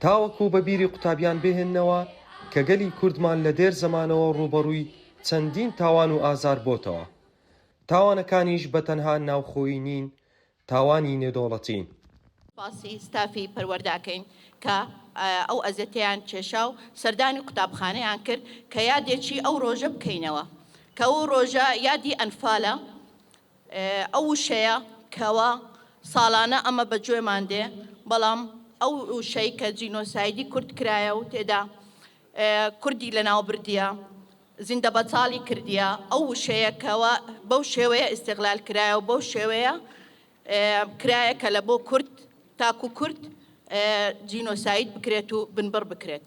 تاوەکو بە بیری قوتابیان بهێننەوە کە گەلی کوردمان لە دێر زەمانەوە ڕووبەڕووی چەندین تاوان و ئازار بۆتەوە. تاوانەکانیش بە تەنها ناوخۆیی نین، تاوانی نێودەوڵەتین. سوپاسی ستافی پەروەردەکەین کە ئەو ئەزێتەیان کێشا و سەردانی قوتابخانەیان کرد کە یادێکی ئەو ڕۆژە بکەینەوە کە ئەو ڕۆژە یادی ئەنفالە. ئەو وشەیە کەوا ساڵانە ئەمە بە گوێمان دێ بەڵام ئەو وشەی کە جینۆسایدی کورد کرایە و تێدا کوردی لەناو بردیە زیندە بەتاڵی کردیە ئەو وشەیە کەوا بەو شێوەیە ئیسیغلال کرایە و بەو شێوەیە کرایە کە لە بۆ کورد تاکو کورد جینۆساید بکرێت و بنبڕ بکرێت.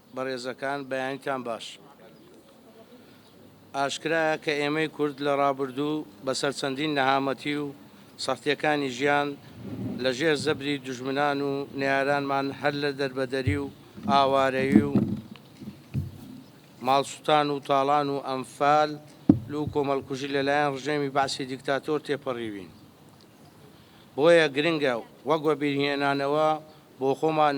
بەڕێزەکان بەیانیتان باش. ئاشکرایە کە ئێمەی کورد لە ڕابردوو بەسەر چەندین نەهامەتی و سەختیەکانی ژیان لە ژێر زەبری دوژمنان و نەیارانمان هەر لە دەربەدەری و ئاوارەیی و ماڵسوتان و تاڵان و ئەنفال و کۆمەڵکوژی لە لایەن ڕژێمی بەعسی دیکتاتۆر تێپەڕیوین. بۆیە گرنگە وەک وەبیرهێنانەوە بۆ خۆمان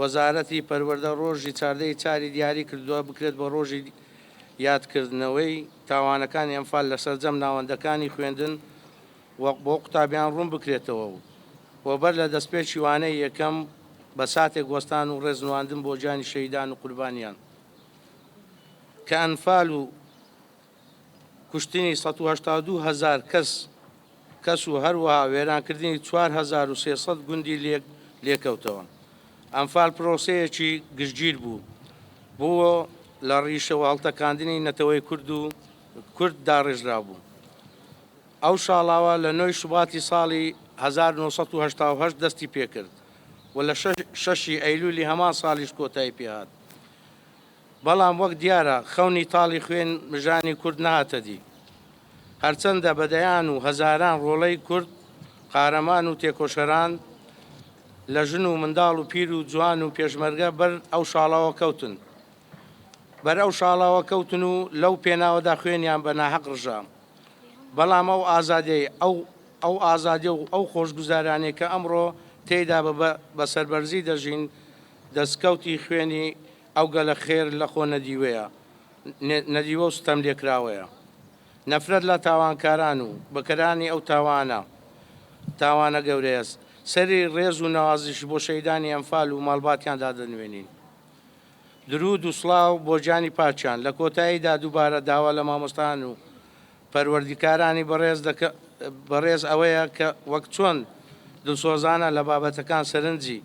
وەزارەتی پەروەردە ڕۆژی چاردە ی چاری دیاری کردووە بکرێت بە ڕۆژی یادکردنەوەی تاوانەکانی ئەنفال لە سەرجەم ناوەندەکانی خوێندن و بۆ قوتابیان ڕوون بکرێتەوە و و بەر لە دەستپێکی وانەی یەکەم بە ساتێک وەستان و ڕێز نواندن بۆ گیانی شەهیدان و قوربانیان کە ئەنفال و کوشتنی سەد و هەشتا و دوو هەزار کەس کەس و هەروەها وێرانکردنی چوار هەزار و سێ سەد گوندی لێک لێکەوتەوە. ئەنفال پرۆسەیەکی گشتگیر بوو بۆ لە ڕیشەوە هەڵتەکاندنی نەتەوەی کورد و کورد داڕێژرابوو. ئەو شاڵاوە لە نۆی شوباتی ساڵی هەزار و نۆ سەد و هەشتا و هەشت دەستی پێکرد و لە شەش شەشی ئەیلولی هەمان ساڵیش کۆتایی پێهات. بەڵام وەک دیارە خەونی تاڵی خوێن مژانی کورد نەهاتە دی. هەرچەندە بە دەیان و هەزاران ڕۆڵەی کورد قارەمان و تێکۆشەران لە ژن و منداڵ و پیر و جوان و پێشمەرگە بەر ئەو شاڵاوە کەوتن بەر ئەو شاڵاوە کەوتن و لەو پێناوەدا خوێنیان بە ناهەق ڕژا بەڵام ئەو ئازادەی ئەو ئەو ئازادی و ئەو خۆشگوزارانێ کە ئەمڕۆ تێیدا بە بە سەربەرزی دەژین دەستکەوتی خوێنی ئەو گەلە خێر لە خۆ نەدیوەیە، نەدیوە و ستەم لێکراوەیە. نەفرەت لە تاوانکاران و بکەرانی ئەو تاوانە، تاوانە گەورەیە. سەری ڕێز و نەوازش بۆ شەهیدانی ئەنفال و ماڵباتیان دادەنوێنین. درود و سڵاو بۆ گیانی پاکیان. لە کۆتاییدا دووبارە داوا لە مامۆستایان و پەروەردیکارانی بەڕێز دەکە بەڕێز ئەوەیە کە وەک چۆن دلسۆزانە لە بابەتەکان سەرنجی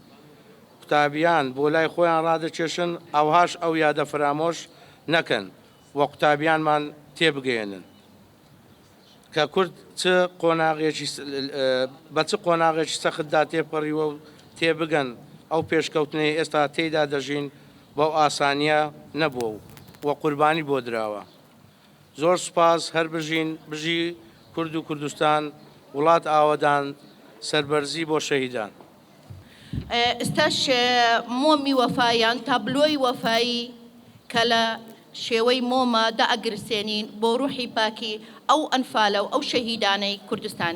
قوتابیان بۆ لای خۆیان ڕادەکێشن ئەوهاش ئەو یادە فرامۆش نەکەن و قوتابیانمان تێبگەیەنن کە کورد چ قۆناغێکی بە چ قۆناغێکی سەختدا تێپەڕیوە و تێبگەن ئەو پێشکەوتنەی ئێستا تێیدا دەژین بەو ئاسانییە نەبووە و قوربانی بۆ دراوە. زۆر سوپاس هەر بژین بژی کورد و کوردستان وڵات ئاوەدان سەربەرزی بۆ شەهیدان. ئستاش مۆمی وەفا یان تابلۆی وەفایی کە لە شێوەی مۆمە دائەگرسێنین بۆ روحی پاکی ئەو ئەنفالە و ئەو شەهیدانەی کوردستان.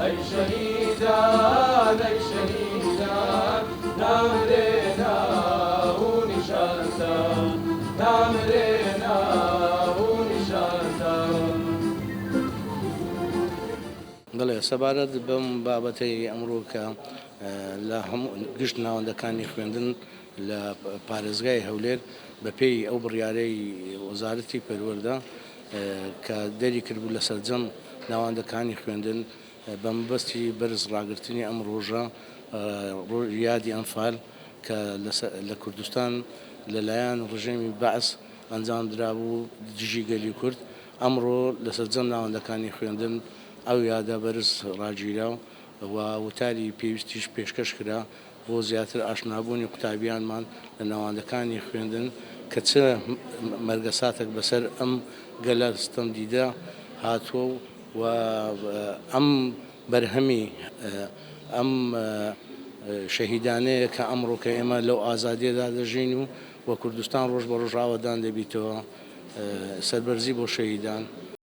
ئەی شەهیدان ئەی شەهیدان نامرێ ناو و نیشانتان نامرێ ناو و نیشانتان. بەڵێ سەبارەت بەم بابەتەی ئەمڕۆ کە لە گشت ناوەندەکانی خوێندن لە پارێزگای هەولێر بەپێی ئەو بڕیارەی وەزارەتی پەروەردە، کە دەری کردبوو لە سەرجەم ناوەندەکانی خوێندن بە مەبەستی بەرز ڕاگرتنی ئەم ڕۆژە یادی ئەنفال کە لە کوردستان لەلایەن ڕژێمی بەعس ئەنجام درابوو دژی گەلی کورد ئەمڕۆ لە سەرجەم ناوەندەکانی خوێندن ئەو یادە بەرز ڕاگیرا و وتاری پێویستیش پێشکەش کرا بۆ زیاتر ئاشنابوونی قوتابیانمان لە ناوەندەکانی خوێندن کە چ مەرگەساتەک بەسەر ئەم گەلە ستەمدیدە هاتووە و ئەم بەرهەمی ئەم شەهیدانەیە کە ئەمڕۆ کە ئێمە لەو ئازادیەدا دەژین و کوردستان ڕۆژ بە ڕۆژ ئاوەدان دەبیتەوە سەربەرزی بۆ شەهیدان.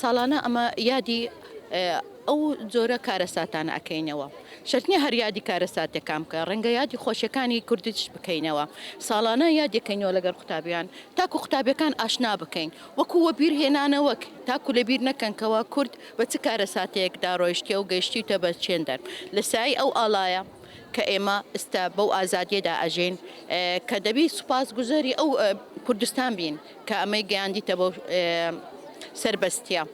ساڵانە ئەمە یادی ئەو جۆرە کارەساتانە ئەکەینەوە شەرت نیە هەر یادی کارەساتەکان بکە ڕەنگە یادی خۆشیەکانی کوردیش بکەینەوە ساڵانە یادەکەینەوە لەگەڵ قوتابیان تاکو قوتابیەکان ئاشنا بکەین وەکو وەبیر هێنانەوەک تاکو لەبیر نەکەنکەوە کورد بە چ کارەساتەیەکدا ڕۆیشتە و گەیشتیتە بە چێندەر لە سای ئەو ئاڵایە کە ئێمە ئستا بەو ئازادیەدا ئەژین کە دەبی سوپاس گوزەری ئەو کوردستان بین کە ئەمەی گەیاندیتە بۆ سەربەستیە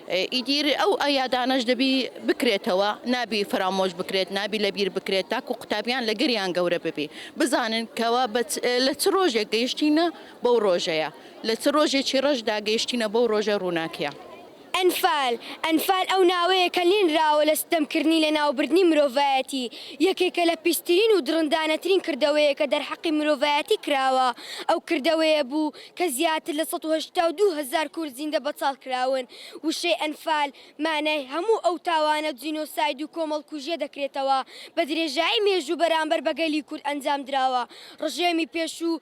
ئیدیر ئەو ئەیادانەش دەبی بکرێتەوە نابی فرامۆش بکرێت نابی لەبیر بکرێت تاکو قوتابیان لە گەریان گەورە ببی بزانن کەوا لە چ ڕۆژێک گەیشتینە بەو ڕۆژەیە لە چ ڕۆژێکی ڕەشدا گەیشتینە بەو ڕۆژە ڕووناکیە. ئەنفال، ئەنفال ئەو ناوەیە کە لێنراوە لە ستەمکردنی لەناوبردنی مرۆڤایەتی، یەکێکە لە پیسترین و دڕندانەترین کردەوەیە کە دەرحەقی مرۆڤایەتی کراوە، ئەو کردەوەیە بوو کە زیاتر لە سەد و هەشتا و دوو هەزار کورد زیندە بەچاڵ کراون، وشەی ئەنفال مانای هەموو ئەو تاوانە جینۆساید و کۆمەڵکوژیە دەکرێتەوە بەدرێژایی مێژوو بەرامبەر بە گەلی کورد ئەنجامدراوە، ڕژێمی پێشوو،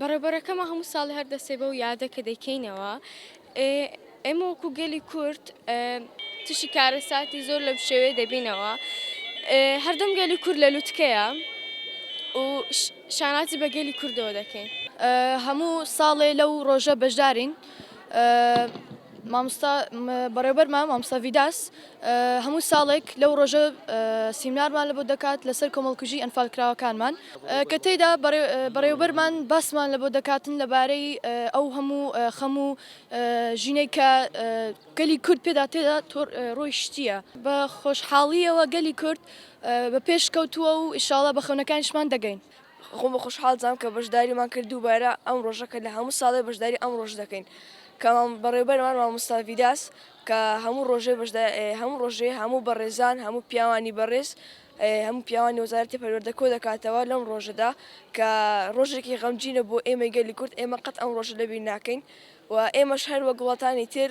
بەڕێوبەرەکەمان هەموو ساڵی هەر دەسێ بەو یادە کە دەیکەینەوە ئێمە وەکو گەلی کورد تشی کارەساتی زۆر لەم شێوێ دەبینەوە هەردەم گەلی کورد لە لوتکەیە و شانازی بە گەلی کوردەوە دەکەین هەموو ساڵێ لەو ڕۆژە بەشدارین مامۆستا بەڕێوبەرمان مامۆستا ڤیداس هەموو ساڵێک لەو ڕۆژە سیمنارمان لە بۆ دەکات لەسەر کۆمەڵکوژی ئەنفالکراوەکانمان کە تێدا بەڕێوبەرمان باسمان لە بۆ دەکاتن لەبارەی ئەو هەموو خەم و ژینەی کە گەلی کورد پێدا تێدا ڕۆی شتیە بە خۆشحاڵیەوە گەلی کورد بە پێش کەوتووە و ئیشاڵە بە خەونەکانیشمان دەگەین. خۆم بە خۆشحاڵ دەزانم کە بەشداریمان کرد دووبارە ئەم ڕۆژە کە لە هەموو ساڵێ بەشداری ئەم ڕۆژ دەکەین کە بەڕێبەرمان مامۆستا ڤیداس کە هەموو ڕۆژێ هەموو ڕۆژێ هەموو بەڕێزان هەموو پیاوانی بەڕێز هەموو پیاوانی وەزارەتی پەروەردە کۆ دەکاتەوە لەم ڕۆژەدا کە ڕۆژێکی غەمجینە بۆ ئێمەی گەلی کورد ئێمە قەت ئەم ڕۆژە لەبیر ناکەین و ئێمەش هەر وەک وڵاتانی تر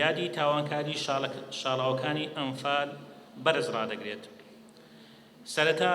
یادی تاوانکاری شاڵاوەکانی ئەنفال بەرز ڕادەگرێت سەرەتا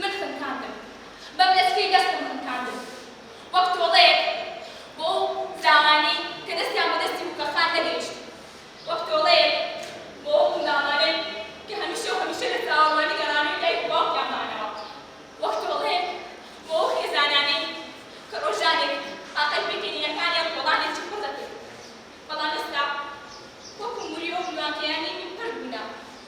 من خنکاندم، بە بلەسکەی دەستم خنکاندم، وەک تۆڵەیەک بۆ ئەو فراوانەی کە دەستیان بە دەستی بووکەخان نەگەیشت، وەک تۆڵەیەک بۆ ئەو منداڵانەی کە هەمیشە و هەمیشە لە چاوەڕوانی گەڕانەوەی دایک و باوکیان مانەوە، وەک تۆڵەیەک بۆ ئەو خێزانانەی کە ڕۆژانێک تاقەت پێکەنینەکانیان کۆڵانێکی پڕ دەکرد، بەڵام ئێستا وەکو موری ئەو نواکەیان نیوی پڕ بوونە.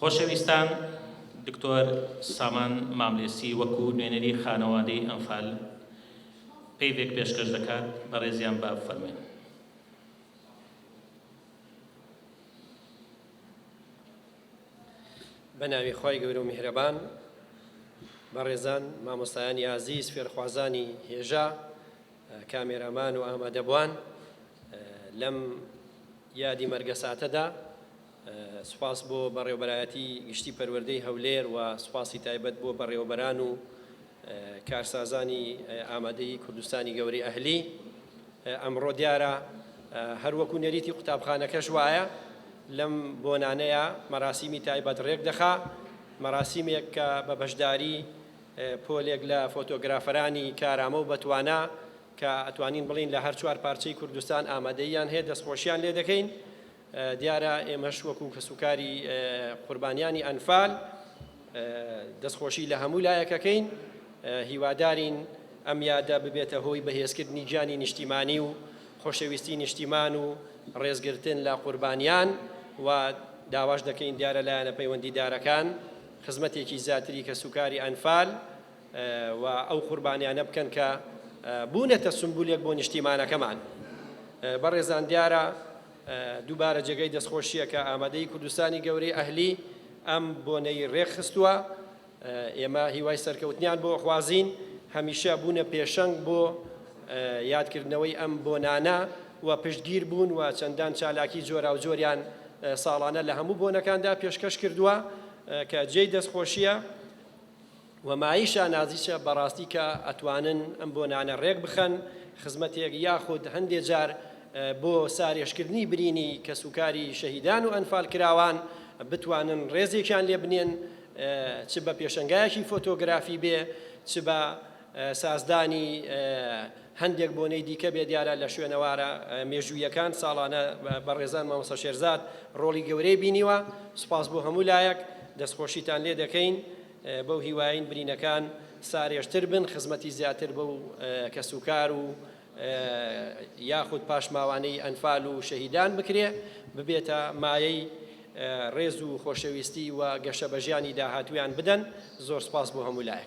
خۆشەویستان دکتۆر سامان ماملێسی وەکو نوێنەری خانەوادەی ئەنفال پەیڤێک پێشکەش دەکات بەڕێزیان با بفەرمێن بەناوی خی گەورە و میهرەبان بەڕێزان مامۆستایانی ئازیز فێرخوازانی هێژا کامێرامان و ئامادەبوان لەم یادی مەرگەساتەدا سوپاس بۆ بەڕێوبەرایەتی گشتی پەروەردەی هەولێر و سوپاسی تایبەت بۆ بەڕێوبەران و کارسازانی ئامادەی کوردستانی گەوری ئەهلی ئەمڕۆ دیارە هەروەکو نەریتی قوتابخانەکەش وایە لەم بۆنانەیە مەراسیمی تایبەت ڕێک دەخا مەراسیمێک کە بە بەشداری پۆلێک لە فۆتۆگرافەرانی کارامە و بەتوانا کە ئەتوانین بڵێین لە هەر چوار پارچەی کوردستان ئامادەییان هەیە دەستخۆشیان لێ دەکەین دیارە ئێمەش وەکو کەسوکاری قوربانیانی ئەنفال دەستخۆشی لە هەموو لایەکەکەین هیوادارین ئەم یادە ببێتە هۆی بەهێزکردنی گیانی نیشتیمانی و خۆشەویستی نیشتیمان و ڕێزگرتن لە قوربانیان و داواش دەکەین دیارە لایەنە پەیوەندیدارەکان خزمەتێکی زیاتری کەسوکاری ئەنفال و ئەو قوربانیانە بکەن کە بوونەتە سمبولێک بۆ نیشتیمانەکەمان بەڕێزان دیارە دووبارە جێگەی دەستخۆشیە کە ئامادەی کوردستانی گەورەی ئەهلی ئەم بۆنەی ڕێکخستووە ئێمە هیوای سەرکەوتنیان بۆ خوازین هەمیشە بوونە پێشەنگ بۆ یادکردنەوەی ئەم بۆنانە و پشتگیر بوون و چەندان چالاکی جۆراوجۆریان ساڵانە لە هەموو بۆنەکاندا پێشکەش کردووە کە جێی دەستخۆشیە و مایەی شانازیشە بەڕاستی کە ئەتوانن ئەم بۆنانە ڕێک بخەن خزمەتێک یاخود هەندێ جار بۆ سارێژکردنی برینی کەسوکاری شەهیدان و ئەنفالکراوان بتوانن ڕێزێکیان لێ بنێن چ بە پێشەنگایەکی فۆتۆگرافی بێ چ بە سازدانی هەندێک بۆنەی دیکە بێ دیارە لە شوێنەوارە مێژوویەکان ساڵانە بەڕێزان مامۆستا شێرزاد ڕۆڵی گەورەی بینیوە سوپاس بۆ هەموو لایەک دەستخۆشیتان لێ دەکەین بەو هیواین برینەکان سارێژتر بن خزمەتی زیاتر بەو کەسوکار و یاخود پاشماوانەی ئەنفال و شەهیدان بکرێ ببێتە مایەی ڕێز و خۆشەویستی و گەشە بە ژیانی داهاتویان بدەن زۆر سپاس بۆ هەمولایە.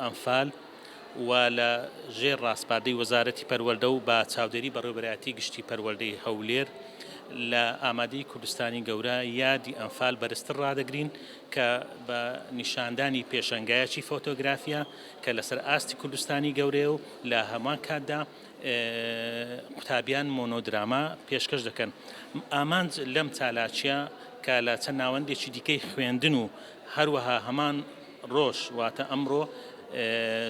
ئەنفال، و لە ژێر ڕاسپاردەی وەزارەتی پەروەردە و بە چاودێری بەڕێوەبەرایەتی گشتی پەروەردەی هەولێر لە ئامادەی کوردستانی گەورە یادی ئەنفال بەرزتر ڕادەگرین کە بە نیشاندانی پێشەنگایەکی فۆتۆگرافیە کە لەسەر ئاستی کوردستانی گەورەیە و لە هەمان کاتدا قوتابیان مۆنۆدراما پێشکەش دەکەن ئامانج لەم چالاکیە کە لە چەند ناوەندێکی دیکەی خوێندن و هەروەها هەمان ڕۆژ واتە ئەمڕۆ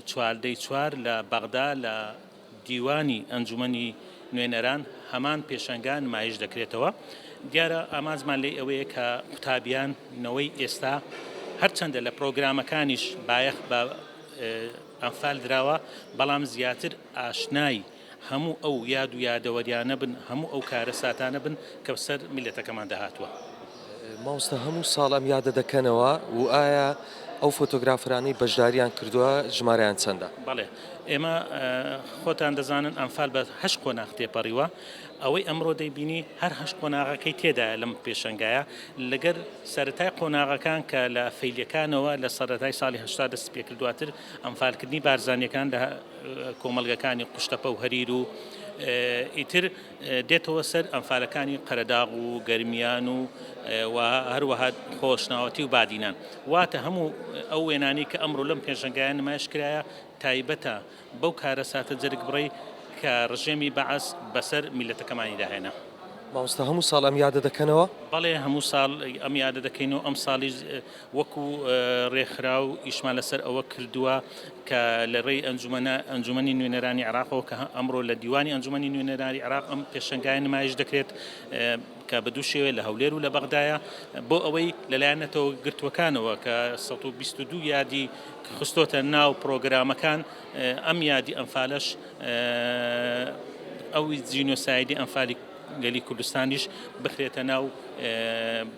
چواردەی چوار لە بەغدا لە دیوانی ئەنجومەنی نوێنەران هەمان پێشەنگا نمایش دەکرێتەوە. دیارە ئامانجمان لێی ئەوەیە کە قوتابیان نەوەی ئێستا هەرچەندە لە پرۆگرامەکانیش بایەخ بە ئەنفال دراوە بەڵام زیاتر ئاشنای هەموو ئەو یاد و یادەوەریانە بن، هەموو ئەو کارەساتانە بن کە بەسەر میللەتەکەماندا هاتووە. مامۆستا هەموو ساڵ ئەم یادە دەکەنەوە و ئایا ئەو فۆتۆگرافەرانەی بەشدارییان کردووە ژمارەیان چەندە؟ بەڵێ، ئێمە خۆتان دەزانن ئەنفال بە هەشت قۆناغ تێپەڕیوە، ئەوەی ئەمڕۆ دەیبینی هەر هەشت قۆناغەکەی تێدایە لەم پێشەنگایە، لەگەر سەرەتای قۆناغەکان کە لە فەیلیەکانەوە لە سەرەتای ساڵی هەشتا دەستی پێکرد دواتر ئەنفالکردنی بارزانییەکان لە کۆمەڵگەکانی قوشتەپە و هەریر و ئیتر دێتەوە سەر ئەنفالەکانی قەرەداغ و گەرمیان و و هەروەها خۆشناوەتی و بادینان واتە هەموو ئەو وێنانی کە ئەمڕۆ لەم پێشنگایان نمایش کرایە تایبەتە بەو کارە ساتە جەرگ بڕی کە ڕژێمی بەعس بەسەر میلەتەکەمانی داهێنا. مامۆستا هەموو ساڵ ئەم یادە دەکەنەوە؟ بەڵێ هەموو ساڵ ئەم یادە دەکەین و ئەم ساڵیش وەکو رێکخراو ئیشمان لەسەر ئەوە کردووە کە لە رێی ئەنجومەنە ئەنجومەنی نوێنەرانی عێراقەوە کە ئەمڕۆ لە دیوانی ئەنجومەنی نوێنەرانی عێراق ئەم پێشەنگایە نمایش دەکرێت کە بە دوو شێوەیە لە هەولێر و لە بەغدایە بۆ ئەوەی لەلایەن نەتەوە گرتووەکانەوە کە 122 یادی خستۆتە ناو پرۆگرامەکان ئەم یادی ئەنفالەش ئەو جینۆسایدی ئەنفالی گەلی کوردستانیش بخرێتە ناو